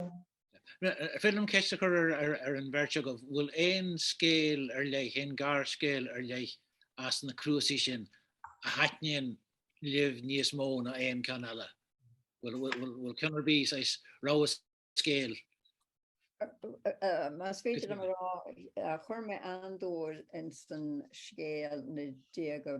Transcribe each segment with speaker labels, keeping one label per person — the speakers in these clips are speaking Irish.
Speaker 1: An féidir liom ceist a chur ar an bheirt agaibh, an bhfuil aon scéal ar leith, aon gharscéal ar leith as na cnuasaigh sin a thaitníonn libh níos mó ná aon ceann eile? Bhfuil ceann ar bith saghas rogha
Speaker 2: scéil? Más féidir liom a rá, chuir mé an-dúil ins an scéal na Déaga.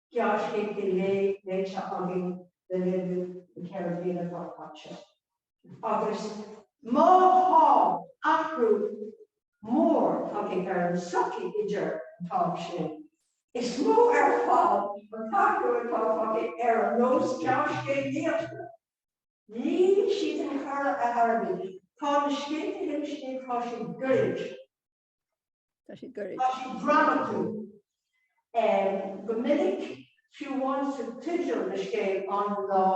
Speaker 3: Gearrscéal faoi léite againn le linn na ceithre bliana atá caite agus má tá athrú mór tagtha ar an tsochaí idir an t-am sin. Is mó ar fad an t-athrú atá tagtha ar an nós gearrscéalaíochta. Níl siad ag faire ar airgead, tá na scéalta lom, simplí, tá siad goirid.
Speaker 2: Tá sí goirid. Tá
Speaker 3: sí dramatúil. Go minic, fiú amháin sa teideal na scéal An Lá,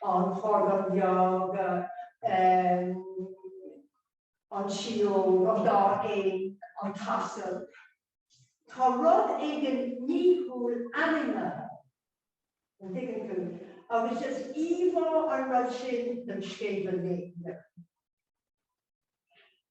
Speaker 3: An Chorr Dhubh Bheag, An tSióg, An Dá Éan, An tAsal, tá rud éigin nithiúil ainmnithe, an dtuigeann tú, agus is íomhá an rud sin don scéal go léir.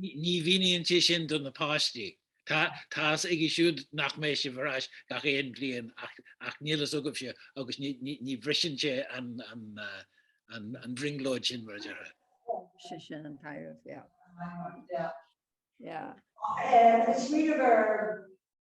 Speaker 1: Ní mhíníonn sé sin do na páistí. Tá a fhios aige siúd nach mbeidh sibh ar ais gach aon bhliain ach níl a fhios agaibhse agus ní bhriseann sé an bhrionglóid sin, mar a déarfá. Sin, sin
Speaker 2: an taibhreamh, yeah. Yeah. Yeah. Ach eh, is
Speaker 3: riamh ar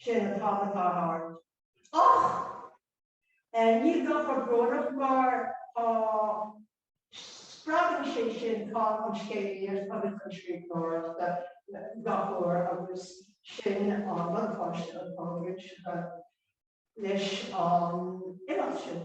Speaker 3: Sin an t-am atá thart. Ach níl sé chomh brónach mar spreagann sé sin ar fad an scéalaíocht agus an scríbhneoireacht gach uair agus sin an buntáiste atá againn leis an imeacht sin.